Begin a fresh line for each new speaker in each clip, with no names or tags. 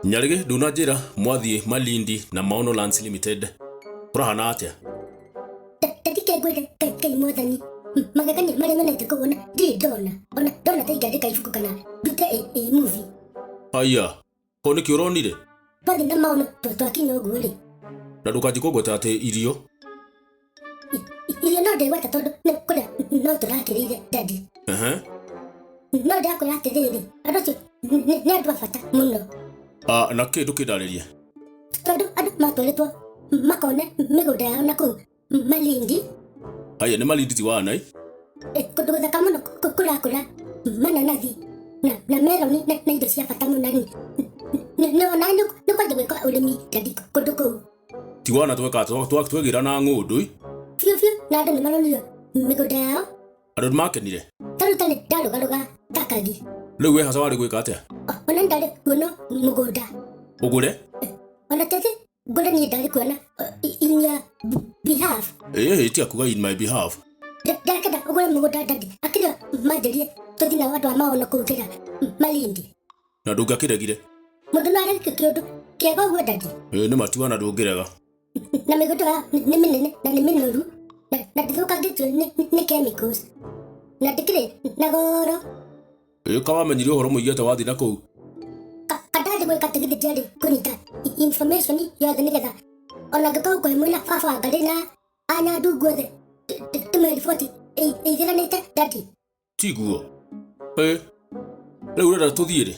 nyarĩgĩ ndunanjĩra mwathiĩ malindi na maono lands limited kũrahana atĩa
tathike ngwĩre ngai ngai mwathani M- magegania marĩa nyonete kũu ona ndirĩ ndona ona ndona ta ingĩandĩka ibuku kana ndute ĩ- ĩ muvi aya
ko nĩkĩ ũronire twathiĩ na maono
twa- twakinya ũguo-rĩ na ndũkanjikũngweta
atĩ irio
irio no ndĩgweta tondũ nĩ kũrĩa no tũrakĩrĩire dadi Aha. no ndĩrakwĩra atĩrĩrĩ andũ acio nĩ nĩ andũ a bata mũno Ah, na kĩndũ
kĩndarĩrie tondũ
andũ matwarĩtwo makone mĩgũnda yao na kũu malindi aya nĩ
malinditi wa anai eh, kũndũ
gũthaka mũno kũ- kũ- kũrakũra mananathi na, na meroni na, na indo cia bata mũno rĩ nĩwona nĩ kwanjia gwĩka ũrĩmi dadi kũndũ kũu tiwona tweka
twegĩra na ng'ũndũ ĩ biũ biũ na
andũ nĩ maronire mĩgũnda yao andũ nĩ makenire
taruta nĩ ndarũgarũga
takagi rĩu wĩ haca warĩ
gwĩka atĩa ona ndarĩ
kuona mũgũnda ũgũre
ona tete
ngũre niĩ ndarĩ kuona in your b- behalf ĩĩ tia kuga
in my behalf ndakenda ũgũre
mũgũnda ndandi akĩrĩa manjĩrie tũthi na andũ a maono kũu kĩra malindi na ndũngakĩregire
Mũndũ no arege
kĩũndũ kĩega ũguo ndadi. Ĩĩ, nĩ matua na ndũngĩrega
Na mĩgũnda
ya nĩ nĩ mĩnene na nĩ mĩnoru. Na na ndĩthũkangĩtio nĩ nĩ- nĩ chemicals. Na ndĩkĩrĩ na goro. Ĩĩ, ka
wamenyire ũhoro mũingĩ atĩ wathiĩ na kũu Ka- Kadathi
gwĩka atĩ githĩ ndiarĩ kũnyita i- information yothe nĩgetha ona ngĩkorwo kwĩ mwĩna baba wa ngarĩ na anya ndungu othe tũmĩriboti ĩithiranĩte ndadi. tiguo
ĩ rĩu ũrenda tũthiĩ rĩ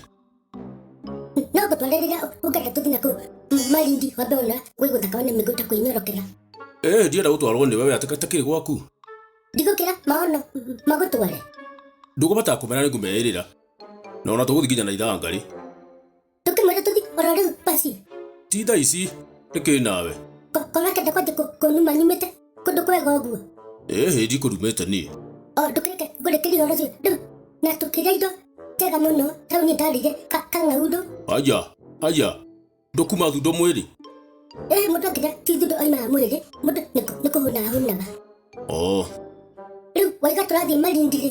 no ngũtware rĩrĩa ũngenda tũthiĩ na kũu marindi wambe ona gwĩ gũthaka one mĩgũta kwĩnyorokera ĩ ndienda
gũtwarwo nĩ wewe atĩka takĩrĩ gwaku ndigũkĩra
maono magũtware ndũkũbata
kũmera nĩ ngũmeĩrĩra na ona tũgũthiĩ nginya na ithangarĩ Tũ
kĩmwĩra tũthi oro rĩu basi. Ti thaa ici,
nĩ kĩ nawe? Ko- Kona kenda kwanjia
kũ- kũnuma nyumĩte kũndũ kwega ũguo. Ĩ hĩ ndikũrumĩte
niĩ. O ndũkĩreke ngũrĩkĩrie
ũhoro ũcio rĩu. Na tũkĩrĩa indo njega mũno tau niĩ ndarĩire ka- kang'aurũ. Aya,
aya, ndũkuma thundo mwĩrĩ. Ĩ mũndũ
angĩrĩa ti thundo oimaga mwĩrĩ, mũndũ nĩ kũ- nĩ kũhũnaga hũnaga. Oo, Rĩu waiga tũrathiĩ marindi-rĩ,